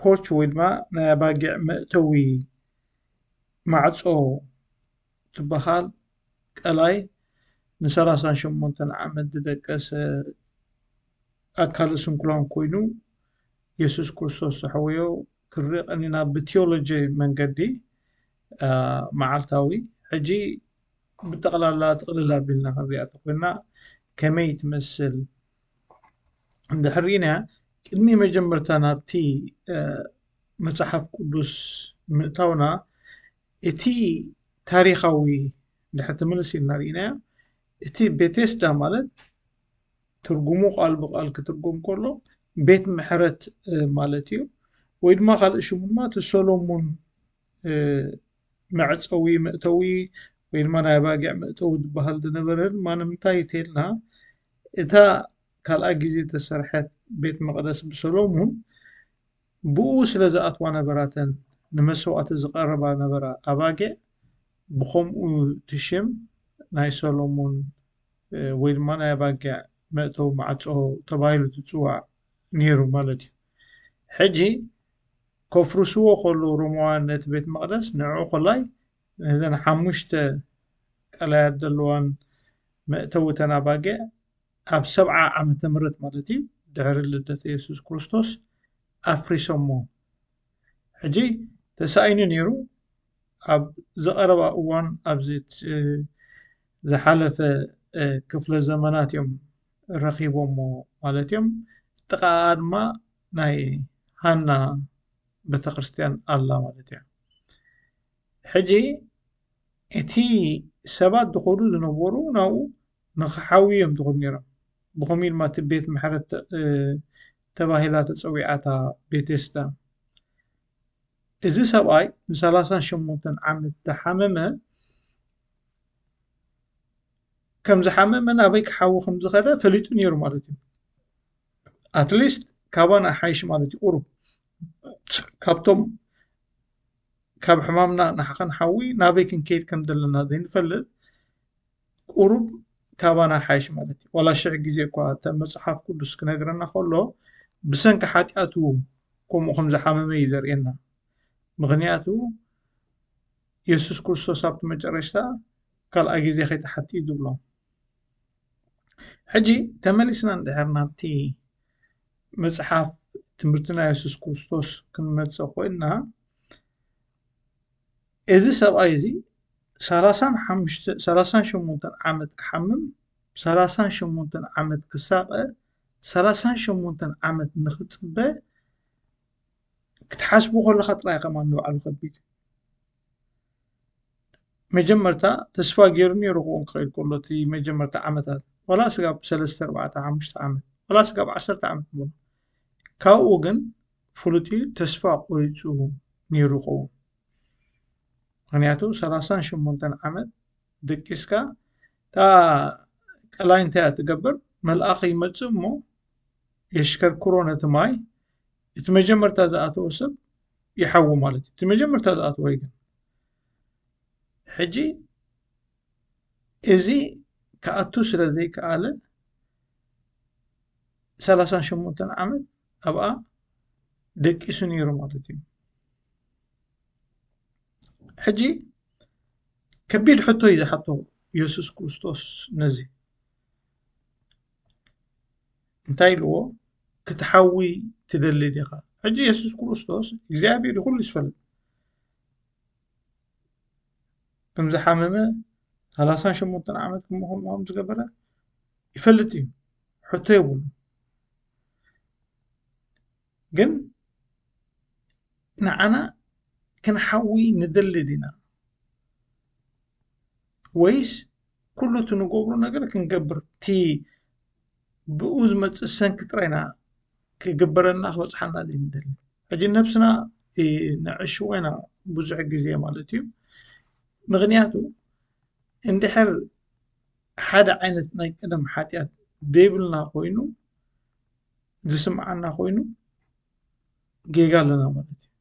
ፖርች ወይ ድማ ናይ ኣባጊዕ መእተዊ ማዕፆ ትበሃል ቀላይ ንሰላሳን ሸሞንተን ዓመት ዝደቀሰ ኣካለ ስንኩላን ኮይኑ የሱስ ክርስቶስ ዘሕወዮ ክንርኢ ቀኒና ብቲዮሎጂ መንገዲ መዓልታዊ ሕጂ ብጠቕላላ ጥቕልል ኣቢልና ክንሪኣ እንተኾይና ከመይ ትመስል? ድሕሪና ቅድሚ መጀመርታ ናብቲ መፅሓፍ ቅዱስ ምእታውና እቲ ታሪኻዊ ድሕቲ ምልስ ኢልና ርኢናዮ እቲ ቤቴስዳ ማለት ትርጉሙ ቃል ብቃል ክትርጎም ከሎ ቤት ምሕረት ማለት እዩ ወይ ድማ ካልእ ሽሙ ድማ እቲ ሰሎሙን መዕጸዊ መእተዊ ወይ ድማ ናይ ኣባጊዕ መእተዊ ዝበሃል ዝነበረ ድማ ንምንታይ እዩ ተይልና እታ ካልኣይ ግዜ ተሰርሐት ቤት መቕደስ ብሰሎሙን ብኡ ስለ ዝኣትዋ ነበራተን ንመስዋእቲ ዝቐረባ ነበራ ኣባጊዕ ብኸምኡ ትሽም ናይ ሰሎሙን ወይ ድማ ናይ ኣባጊዕ መእተዊ ማዕጾ ተባሂሉ ትጽዋዕ ነይሩ ማለት እዩ ሕጂ ከፍርስዎ ከለዉ ሮማውያን ነቲ ቤት መቕደስ ንዕኡ ዀላይ ነዘን ሓሙሽተ ቀላያት ዘለዋን መእተዊ እተን ኣባጊዕ ኣብ ሰብዓ ዓመተ ምሕረት ማለት ኢዩ ድሕሪ ልደተ የሱስ ክርስቶስ ኣፍሪሶሞ ሕጂ ተሳኢኑ ነይሩ ኣብ ዝቐረባ እዋን ኣብዚ ዝሓለፈ ክፍለ ዘመናት ኢዮም ረኺቦሞ ማለት ኢዮም ጥቓኣ ድማ ናይ ሃና ቤተክርስትያን ኣላ ማለት እያ ሕጂ እቲ ሰባት ዝኸዱ ዝነበሩ ናብኡ ንክሓውዩ እዮም ዝኸዱ ነይሮም ብኸምኡ ድማ እቲ ቤት ምሕረት ተባሂላ ተፀዊዓታ ቤቴስዳ እዚ ሰብኣይ ንሰላሳን ሸሞንተን ዓመት ዝሓመመ ከም ዝሓመመን ኣበይ ክሓዊ ከም ዝኸደ ፈሊጡ ነይሩ ማለት እዩ ኣትሊስት ካባና ይሓይሽ ማለት እዩ ቁሩብ ካብቶም ካብ ሕማምና ንሓዊ ናበይ ክንከይድ ከም ዘለና ዘይንፈልጥ ቁሩብ ካባና ይሓይሽ ማለት እዩ ዋላ ሽሕ ግዜ እኳ እተ መፅሓፍ ቅዱስ ክነግረና ከሎ ብሰንኪ ሓጢኣቱ ከምኡ ከም ዝሓመመ እዩ ዘርእየና ምክንያቱ የሱስ ክርስቶስ ኣብቲ መጨረሽታ ካልኣይ ግዜ ከይትሓቲ እዩ ዝብሎም ሕጂ ተመሊስና እንድሕር ናብቲ መጽሓፍ ትምህርቲ ናይ የሱስ ክርስቶስ ክንመጽእ ኮይንና እዚ ሰብኣይ እዚ ሰላሳን ሓሙሽተ ሰላሳን ሸሞንተን ዓመት ክሓምም ሰላሳን ሸሞንተን ዓመት ክሳቐ ሰላሳን ሸሞንተን ዓመት ንኽጽበ ክትሓስቡ ከለኻ ጥራይ ከም ንባዕሉ ከቢድ መጀመርታ ተስፋ ገይሩ ነይሩ ክኸውን ክኽእል ከሎ እቲ መጀመርታ ዓመታት ዋላ ስጋብ ሰለስተ ኣርባዕተ ሓሙሽተ ዓመት ዋላ ስጋብ ዓሰርተ ዓመት ንበሎ ካብኡ ግን ፍሉጥ እዩ ተስፋ ቆሪፁ ነይሩ ይኸውን ምክንያቱ ሰላሳን ሸሞንተን ዓመት ደቂስካ እታ ቀላይ እንታይ እያ ትገብር መልኣኽ ይመፅእ እሞ የሽከርክሮ ነቲ ማይ እቲ መጀመርታ ዝኣተወ ሰብ ይሓዊ ማለት እዩ እቲ መጀመርታ ዝኣተወ ግን ሕጂ እዚ ክኣቱ ስለ ዘይከኣለ ሰላሳን ሸሞንተን ዓመት ኣብኣ ደቂሱ ነይሩ ማለት እዩ ሕጂ ከቢድ ሕቶ እዩ ዝሓቶ የሱስ ክርስቶስ ነዚ እንታይ ኢልዎ ክትሓዊ ትደሊ ዲኻ ሕጂ የሱስ ክርስቶስ እግዚኣብሄር እዩ ኩሉ ዝፈልጥ ከም ዝሓመመ ሰላሳን ሸሞንተን ዓመት ከምኡ ከም ዝገበረ ይፈልጥ እዩ ሕቶ የብሉ ግን ንዓና ክንሓዊ ንደሊ ዲና ወይስ ኩሉ እቲ ንገብሮ ነገር ክንገብር እቲ ብኡ ዝመፅእ ሰንኪ ጥራይ ኢና ክግበረልና ክበፅሓና ዘይንደሊ ሕጂ ነብስና ነዕሽዎ ኢና ብዙሕ ግዜ ማለት እዩ ምክንያቱ እንድሕር ሓደ ዓይነት ናይ ቀደም ሓጢኣት ዘይብልና ኮይኑ ዝስምዓና ኮይኑ ጌጋ ኣለና ማለት እዩ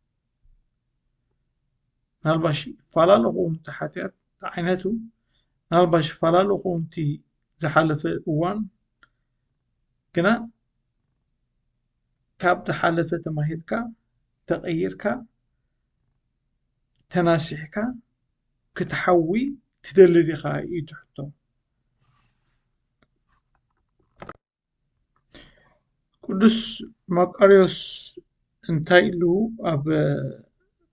ናልባሽ ፈላለኹም እቲ ሓጢኣት ተዓይነቱ ናልባሽ ፈላለኹም እቲ ዝሓለፈ እዋን ግና ካብ ዝሓለፈ ተማሂርካ ተቐይርካ ተናሲሕካ ክትሓዊ ትደሊ ዲኻ እዩ ትሕቶ ቅዱስ መቃርዮስ እንታይ ኢሉ ኣብ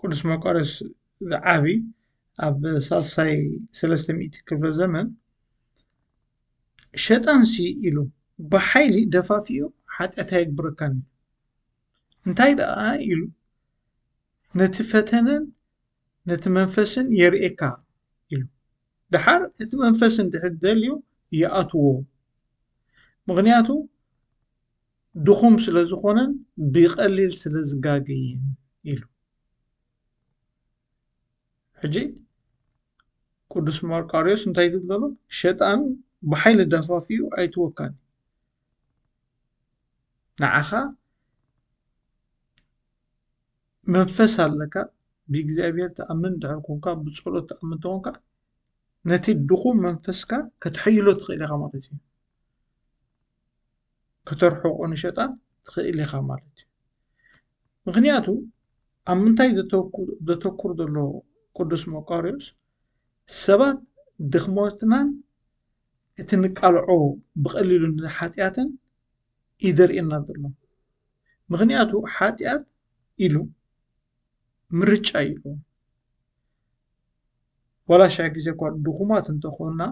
ቅዱስ መቃርዮስ ዝዓቢ ኣብ ሳልሳይ ሰለስተ ሚእቲ ክፍለ ዘመን ሸጣንሲ ኢሉ ብሓይሊ ደፋፊኡ ሓጢኣት ኣይግብረካን ኢሉ እንታይ ደኣ ኢሉ ነቲ ፈተነን ነቲ መንፈስን የርእየካ ኢሉ። ደሓር እቲ መንፈስ እንድሕር ደልዩ ይኣትዎ ምኽንያቱ ድኹም ስለ ዝኾነን ብቐሊል ስለ ዝጋገይን ኢሉ ሕጂ ቅዱስ ማርቃርዮስ እንታይ ይብል ዘሎ ሸጣን ብሓይሊ ደፋፍኡ ኣይትወካን ንዓኻ መንፈስ ኣለካ ብእግዚኣብሄር ትኣምን ድሕር ኮንካ ብጸሎት ትኣምን ተኾንካ ነቲ ድኹም መንፈስካ ከተሐይሎ ትኽእል ኢኻ ማለት እዩ ከተርሕቆ ንሸጣን ትኽእል ኢኻ ማለት እዩ ምክንያቱ ኣብ ምንታይ ዘተኩር ዘሎ ቅዱስ መቃርዮስ ሰባት ድኽመትናን እቲ ንቃልዖ ብቐሊሉ ንሓጢኣትን እዩ ዘርእየና ዘሎ ምክንያቱ ሓጢኣት ኢሉ ምርጫ እዩ ኣለዎ ዋላ ሽሕ ግዜ እኳ ድኩማት እንተኮና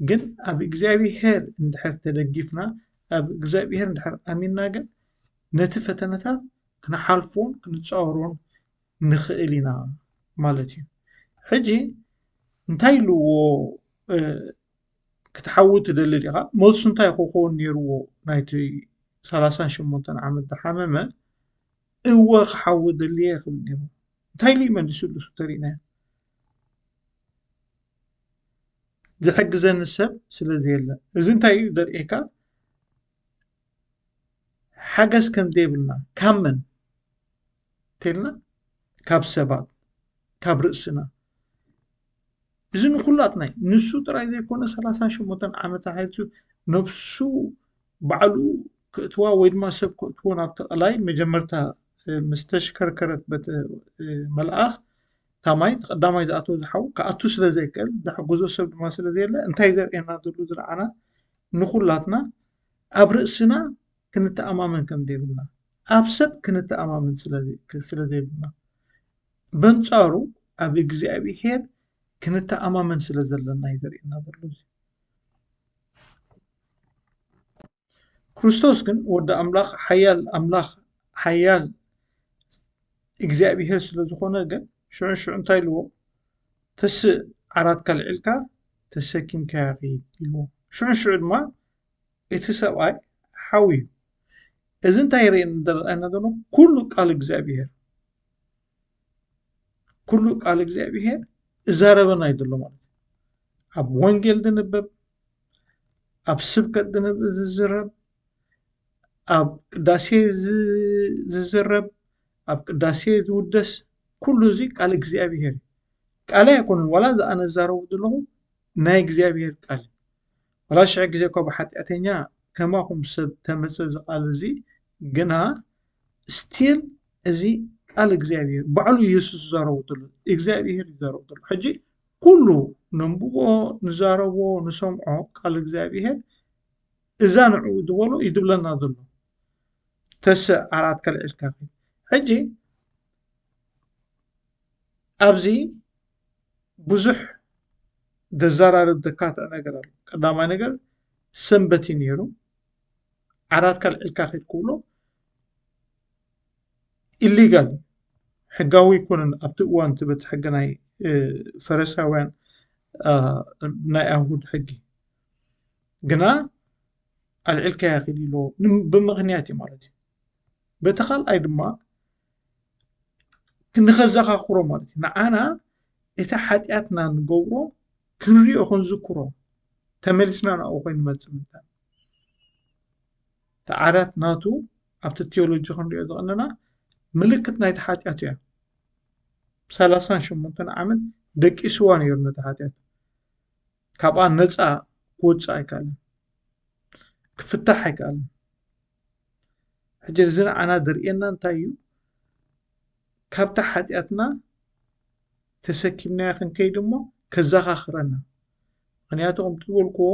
ግን ኣብ እግዚኣብሄር እንድሕር ተደጊፍና ኣብ እግዚኣብሄር እንድሕር ኣሚና ግን ነቲ ፈተነታት ክንሓልፎን ክንፃወሮን ንክእል ኢና ማለት እዩ ሕጂ እንታይ ኣለዎ ክትሓዊ ትደሊ ዲኻ መልሱ እንታይ ክኸውን ነይርዎ ናይቲ ሰላሳን ሸሞንተን ዓመት ዝሓመመ እወ ክሓዊ ደልየ ክብል ነይሩ እንታይ ኢሉ መሊሱሉ ተሪእናዮ ዝሕግዘኒ ሰብ ስለ ዘየለ እዚ እንታይ እዩ ዘርእየካ ሓገዝ ከም ዘይብልና ካብ መን እንተልና ካብ ሰባት ካብ ርእስና እዚ ንኩላትና እዩ ንሱ ጥራይ ዘይኮነ ሰላሳ ሸሞንተን ዓመት ኣሕሊፉ ነብሱ ባዕሉ ከእትዋ ወይ ድማ ሰብ ከእትዎ ናብቲ ቀላይ መጀመርታ ምስ ተሽከርከረት በቲ መልኣኽ እታ ማይ እቲ ቀዳማይ ዝኣተወ ዝሓው ክኣቱ ስለ ዘይክእል ዝሕግዞ ሰብ ድማ ስለ ዘየለ እንታይ ዘርእየና ዘሎ ዝለዓና ንኩላትና ኣብ ርእስና ክንተኣማመን ከም ዘይብልና፣ ኣብ ሰብ ክንተኣማመን ስለ ዘይብልና፣ በንጻሩ ኣብ እግዚኣብሄር ክንተኣማመን ስለ ዘለና እዩ ዘርእየና ዘሎ እዚ። ክርስቶስ ግን ወዲ ኣምላኽ ሓያል ኣምላኽ ሓያል እግዚኣብሄር ስለ ዝኾነ ግን ሽዑ ሽዑ እንታይ ኢልዎ ተስእ ዓራትካ ልዒልካ ተሰኪምካያ ኺድ ኢልዎ ሽዑ ሽዑ ድማ እቲ ሰብኣይ ሓው እዩ እዚ እንታይ የርእየና ዘረኣየና ዘሎ ኩሉ ቃል እግዚኣብሄር ኩሉ ቃል እግዚኣብሄር እዛረበና እዩ ዘሎ ማለት ኣብ ወንጌል ዝንበብ ኣብ ስብከት ዝዝረብ ኣብ ቅዳሴ ዝዝረብ ኣብ ቅዳሴ ዝውደስ ኩሉ እዚ ቃል እግዚኣብሄር እዩ ቃል ኣይኮነን ዋላ እዚ ኣነ ዝዛረቦ ዘለኹ ናይ እግዚኣብሄር ቃል እዩ ዋላ ሽሕ ግዜ እኳ ብሓጢኣተኛ ከማኹም ሰብ ተመጸ እዚ ቃል እዚ ግና ስቲል እዚ ቃል እግዚኣብሔር ባዕሉ ኢየሱስ ዝዛረቦ ዘሎ እግዚኣብሔር ይዛረቦ ዘሎ ሕጂ ኩሉ ነንብቦ ንዛረቦ ንሰምዖ ቃል እግዚኣብሔር እዛ ንዕኡ ዝበሎ እዩ ዝብለና ዘሎ ተስዕ ዓራት ከልዕልካ ሕጂ ኣብዚ ብዙሕ ዘዘራርብ ዘካትዕ ነገር ኣሎ ቀዳማይ ነገር ሰንበት እዩ ነይሩ ዓራት ካልዕልካ ኪድ ክብሎ ኢሊጋል ሕጋዊ ኣይኮነን ኣብቲ እዋን እቲ በቲ ሕጊ ናይ ፈረሳውያን ናይ ኣይሁድ ሕጊ ግና ኣልዕልካያ ኪድ ኢሎ ብምክንያት እዩ ማለት እዩ በቲ ካልኣይ ድማ ንኸዘኻኽሮ ማለት እዩ ንዓና እቲ ሓጢኣትና ንገብሮ ክንሪኦ ክንዝክሮ ተመሊስና ናብኡ ኮይኑ ንመፅእ ምንታይ እቲ ዓራት ናቱ ኣብቲ ቴዎሎጂ ክንሪኦ ዝቐነና ምልክት ናይቲ ሓጢኣት እያ ሰላሳን ሸሞንተን ዓመት ደቂስዋ ነይሩ ነቲ ሓጢኣት ካብኣ ነፃ ክወፅእ ኣይከኣልን ክፍታሕ ኣይከኣልን ሕጂ እዚ ንዓና ዘርእየና እንታይ እዩ ካብታ ሓጢኣትና ተሰኪምናዮ ክንከይድ እሞ ከዘኻኽረና ምክንያቱ ከምቲ ዝበልክዎ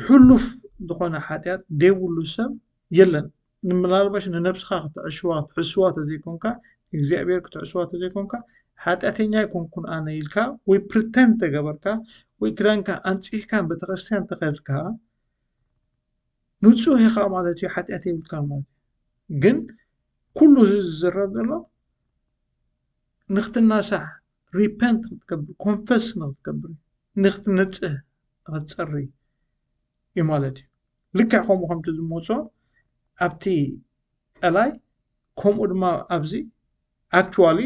ሕሉፍ ዝኾነ ሓጢኣት ዘይብሉ ሰብ የለን ንምናልባሽ ንነብስኻ ክትዕሽዋ ክትሕስዋ ተዘይኮንካ እግዚኣብሔር ክትዕስዋ ተዘይኮንካ ሓጢኣተኛ ኣይኮንኩን ኣነ ኢልካ ወይ ፕሪተንድ ተገበርካ ወይ ክዳንካ ኣንፂህካ ቤተክርስትያን ተኸድካ ንጹህ ኢኻ ማለት እዩ ሓጢኣት የብልካ ማለት እዩ ግን ኩሉ እዚ ዝዝረብ ዘሎ ንክትናሳሕ ሪፐንት ክትገብር ኮንፈስ ንክትገብር ንክትንጽህ ንክትጸሪ እዩ ማለት እዩ ልክዕ ከምኡ ከምቲ ዝመፆ ኣብቲ ጠላይ ከምኡ ድማ ኣብዚ ኣክቹዋሊ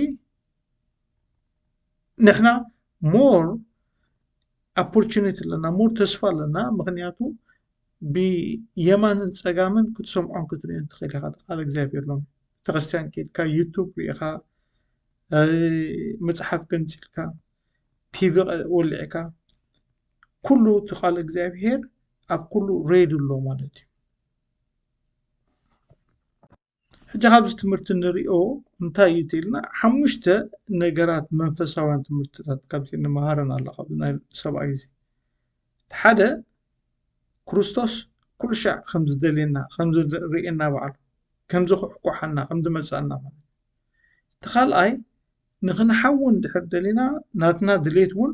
ንሕና ሞር ኣፖርቹኒቲ ኣለና ሞር ተስፋ ኣለና ምክንያቱ ብየማንን ፀጋምን ክትሰምዖን ክትሪኦን ትክእል ኢካ ቃል እግዚኣብሔር ኣሎ ቤተክርስትያን ከይድካ ዩቱብ ሪኢካ መፅሓፍ ገንፂልካ ቲቪ ወሊዕካ ኩሉ እቲ ቃል እግዚኣብሔር ኣብ ኩሉ ሬድዮ ኣሎ ማለት እዩ። ሕጂ ካብዚ ትምህርቲ ንሪኦ እንታይ እዩ ትልና ሓሙሽተ ነገራት መንፈሳውያን ትምህርትታት ካብዚ ንመሃረን ኣላ ካብዚ ናይ ሰብኣይ እዚ እቲ ሓደ ክርስቶስ ኩሉ ሻዕ ከም ዝደልየና ከም ዝርእየና በዓሉ ከም ዝኩሕኳሓና ከም ዝመልሰና ማለት እቲ ካልኣይ ንክንሓዊ እንድሕር ደሊና ናትና ድሌት እውን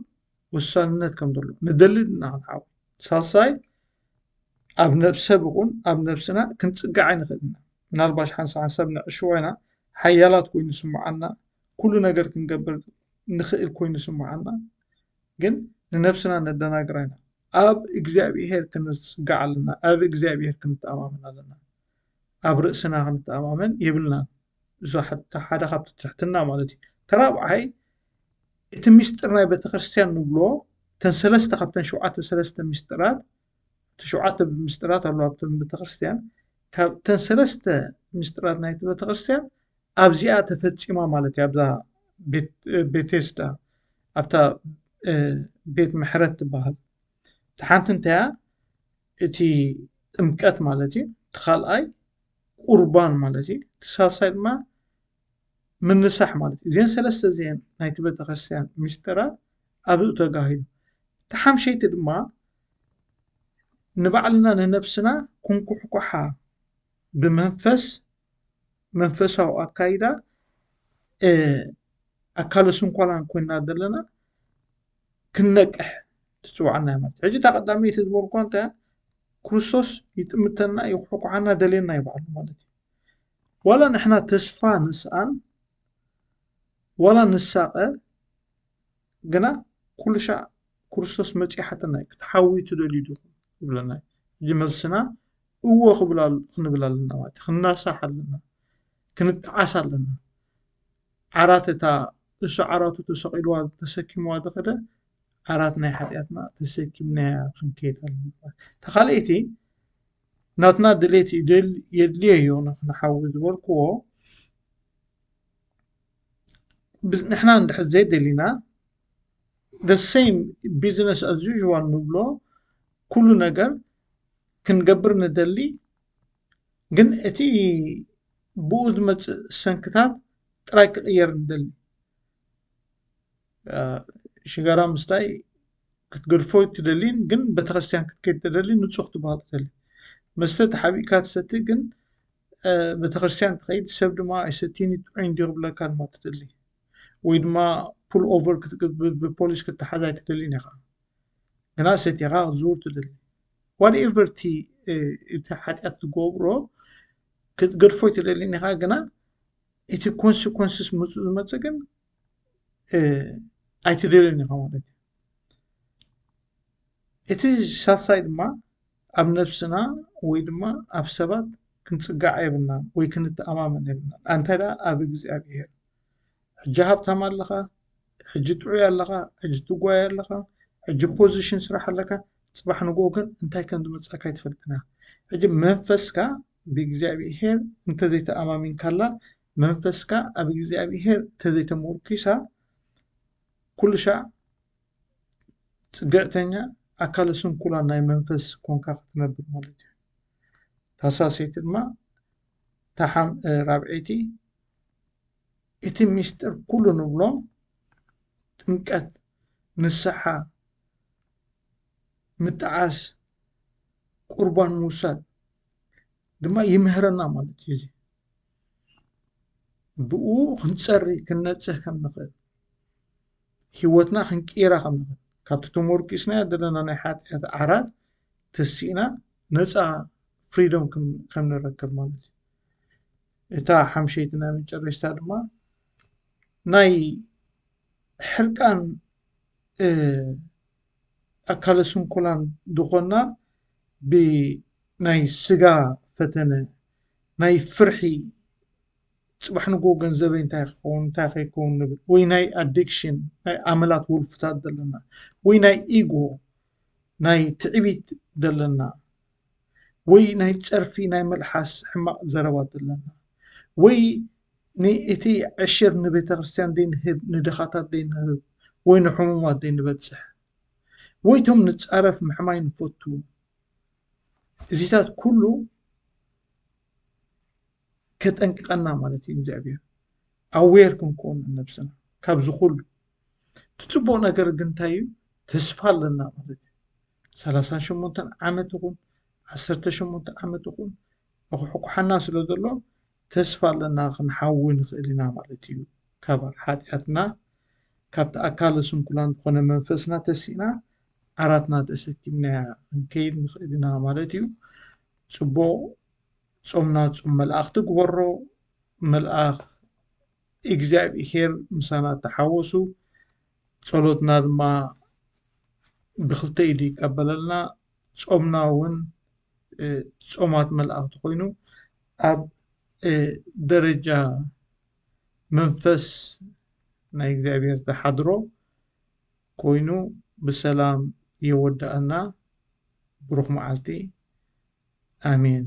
ውሳንነት ከም ዘሎ ንደሊ ድና ክንዓው ሳልሳይ ኣብ ነብሰብ ይኹን ኣብ ነብስና ክንጽጋዕ ኣይንኽእል ኢና ምናልባሽ ሓንሳ ሓንሳብ ንዕሽዋ ኢና ሓያላት ኮይኑ ስምዓና ኩሉ ነገር ክንገብር ንኽእል ኮይኑ ስምዓና ግን ንነብስና ነደናግራ ኢና ኣብ እግዚኣብሄር ክንጽጋዕ ኣለና ኣብ እግዚኣብሄር ክንተኣማመን ኣለና ኣብ ርእስና ክንተኣማመን የብልናን እዞ ሓደ ካብቲ ትሕትና ማለት እዩ ተራብዓይ እቲ ሚስጢር ናይ ቤተክርስትያን ንብሎ እተን ሰለስተ ካብተን ሸውዓተ ሰለስተ ሚስጢራት እቲ ሸውዓተ ሚስጢራት ኣለዋ ኣብተን ቤተክርስትያን ካብተን ሰለስተ ሚስጢራት ናይቲ ቤተክርስትያን ኣብዚኣ ተፈፂማ ማለት እዩ ኣብዛ ቤቴስዳ ኣብታ ቤት ምሕረት ትበሃል እቲ ሓንቲ እንታያ እቲ ጥምቀት ማለት እዩ እቲ ካልኣይ ቁርባን ማለት እዩ እቲ ሳልሳይ ድማ ምንሳሕ ማለት እዩ። እዚኤን ሰለስተ እዚኤን ናይቲ ቤተክርስትያን ሚስጢራት ኣብኡ ተጋሂዱ። እቲ ሓምሸይቲ ድማ ንባዕልና ንነብስና ኩንኩሕኳሓ ብመንፈስ መንፈሳዊ ኣካይዳ ኣካለ ስንኮላን ኮይና ዘለና ክንነቅሕ ትፅዋዕና እያ ማለት ሕጂ እታ ቀዳመይቲ ዝበልኳ እንታይ ክርስቶስ ይጥምተና ይኩሕኳሓና ደልየና ይበዓሉ ማለት እዩ ዋላ ንሕና ተስፋ ንስኣን ዋላ ንሳቐ ግና ኩሉሻዕ ክርስቶስ መጺኡ ይሓተና እዩ ክትሓውዩ ትደልዩ ዲኹም ይብለና እዩ እዚ መልስና እዎ ክንብል ኣለና ማለት ክንናሳሕ ኣለና ክንጠዓስ ኣለና ዓራት እታ እሱ ዓራቱ ተሰቂልዋ ተሰኪምዋ ዝኸደ ዓራት ናይ ሓጢኣትና ተሰኪምናያ ክንከይድ ኣለና ተኻልኣይቲ ናትና ድሌት ይድል የድልዮዮ ንሓዊ ዝበልክዎ ንሕና እንድሕር ዘይደሊና the same business as usual ንብሎ ኩሉ ነገር ክንገብር ንደሊ ግን እቲ ብኡ ዝመፅእ ሰንክታት ጥራይ ክቕየር ንደሊ። ሽጋራ ምስታይ ክትገድፎ ትደሊን ግን ቤተክርስትያን ክትከድ ትደሊ ንፁህ ክትበሃል ትደሊ መስተ ተሓቢእካ ትሰቲ ግን ቤተክርስትያን ትኸይድ ሰብ ድማ ኣይሰቲኒ ጥዑይ እንዲ ክብለካ ድማ ትደሊ ወይ ድማ ፑል ኦቨር ብፖሊስ ክትሓዝ ኣይትደሊን ኢኻ ግና ሰቲኻ ክትዝውር ትደሊ ዋትኤቨር እቲ እቲ ሓጢኣት ትገብሮ ክትገድፎ ኣይትደሊን ኢኻ ግና እቲ ኮንስኮንስስ ምፁ ዝመፀ ግን ኣይትደልን ኢኻ ማለት እዩ እቲ ሳልሳይ ድማ ኣብ ነብስና ወይ ድማ ኣብ ሰባት ክንፅጋዕ የብልና ወይ ክንተኣማመን የብልና ኣንተ ኣብ እግዚኣብሄር ሕጂ ሃብታም ኣለኻ ሕጂ ጥዑይ ኣለኻ ሕጂ ትጓየ ኣለኻ ሕጂ ፖዚሽን ስራሕ ኣለካ ፅባሕ ንግሆ ግን እንታይ ከም ዝመፀካ ኣይትፈልጥን ኢኻ ሕጂ መንፈስካ ብእግዚኣብሄር እንተዘይተኣማሚንካላ መንፈስካ ኣብ እግዚኣብሄር ተዘይተሞርኪሳ ኩሉሻዕ ፅግዕተኛ ኣካለ ስንኩላን ናይ መንፈስ ኮንካ ክትነብር ማለት እዩ ታሳሰይቲ ድማ ራብዐይቲ እቲ ሚስጢር ኩሉ ንብሎ ጥምቀት ንስሓ ምጣዓስ ቁርባን ምውሳድ ድማ ይምህረና ማለት እዩ እዚ ብእኡ ክንፀሪ ክንነፅህ ከም ንኽእል ሂወትና ክንቅይራ ከም ንኽእል ካብቲ ተሞርኲስናዮ ዘለና ናይ ሓጥያት ዓራት ተሲእና ነፃ ፍሪደም ከም ንረክብ ማለት እዩ። እታ ሓምሸይቲ ናይ መጨረሽታ ድማ ናይ ሕርቃን ኣካለ ስንኩላን ዝኾንና ብናይ ስጋ ፈተነ ናይ ፍርሒ ጽባሕ ንግሆ ገንዘበይ እንታይ ክኸውን እንታይ ከይከውን ንብል ወይ ናይ ኣዲክሽን ናይ ኣመላት ውልፍታት ዘለና ወይ ናይ ኢጎ ናይ ትዕቢት ዘለና ወይ ናይ ጸርፊ ናይ መልሓስ ሕማቕ ዘረባ ዘለና ወይ ንእቲ ዕሽር ንቤተክርስትያን ዘይንህብ ንድኻታት ዘይንህብ ወይ ንሕሙማት ዘይንበጽሕ ወይቶም ንጻረፍ ምሕማይ ንፈቱ እዚታት ኩሉ ከጠንቅቀና ማለት እዩ እግዚኣብሔር ኣዌር ክንከውን ነብስና ካብዚ ኩሉ እቲ ፅቡቅ ነገር ግን እንታይ እዩ ተስፋ ኣለና ማለት እዩ ሰላሳን ሸሞንተን ዓመት ይኹን ዓሰርተ ሸሞንተ ዓመት ይኹን ኣኩሕኩሓና ስለ ዘሎ ተስፋ ኣለና ክንሓዊ ንኽእል ኢና ማለት እዩ ካብ ሓጢኣትና ካብቲ ኣካለ ስንኩላን ዝኾነ መንፈስና ተሲእና ዓራትና ተሰኪምናያ ክንከይድ ንኽእል ኢና ማለት እዩ። ጽቡቕ ጾምና ጾም መልኣኽቲ ግበሮ። መልኣኽ እግዚኣብሄር ምሳና ተሓወሱ። ጸሎትና ድማ ብክልተ ኢዱ ይቀበለልና። ጾምና እውን ጾማት መልኣኽቲ ኮይኑ ኣብ ደረጃ መንፈስ ናይ እግዚኣብሄር ተሓድሮ ኮይኑ ብሰላም የወደኣና ብሩኽ መዓልቲ ኣሜን።